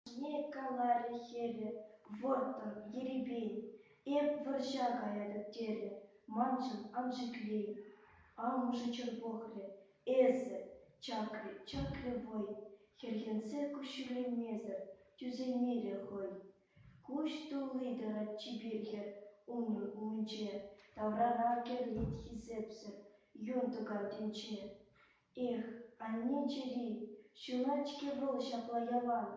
Ҫине каларӗ хӗрӗ вӑрттӑн ерипен. Эп вӑрҫа каятӑп терӗ маншӑн ан шикли. Амӑшӗ чӑн пӑхрӗ, эсӗ, чакрӗ, чакрӗ вӑй. Хӗрхенсе куҫҫульленмесӗр тӳсеймерӗ хӑй. куҫ тулли те чипер хӗр умран умӗнче, таврара кӗрлет хисепсӗр юн тӑкаккинче. Эх, анне чӗри, ҫунать-ҫке вӑл ҫапла ялан,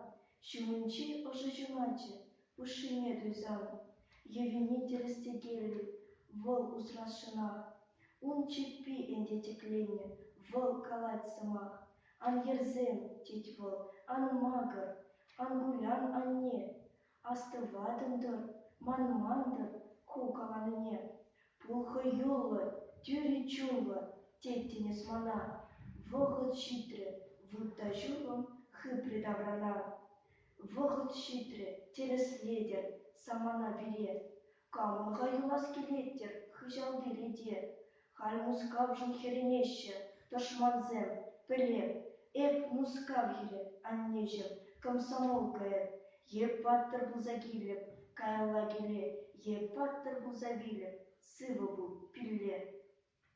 ҫумӗнчи ӑшӑ ҫуначӗ пушшине туйсан. Йӑвине тӗрӗс-тӗкеллӗ вӑл усрасшӑнах. Ун чӗппи ӗнтӗ тӗкленнӗ, вӑл калать сӑмах. Ан йӗрсем, тет вӑл, ан макӑр, ан кулян, анне, астӑватӑн-тӑр, манман-тӑр ку каланине. Пул хӑюллӑ, тӳрӗ чунлӑ, тет тинӗс мана, вӑхӑт ҫитрӗ, вутта ҫурлӑм хыпрӗ таврана. Вӑхӑт ҫитрӗ, тӗрӗслетӗр самана пире, Кам-ха юлас килет-тӗр хыҫал тӗрете? Халь Мускавшӑн хӗрӗнеҫҫӗ тӑшмансем. Пӗлем, эп Мускав хӗрӗ, аннеҫӗм, комсомолкая. Эп паттӑр пулса килӗп, каялла киле. Эп паттӑр пулса вилӗп, сывӑ пул, пилле.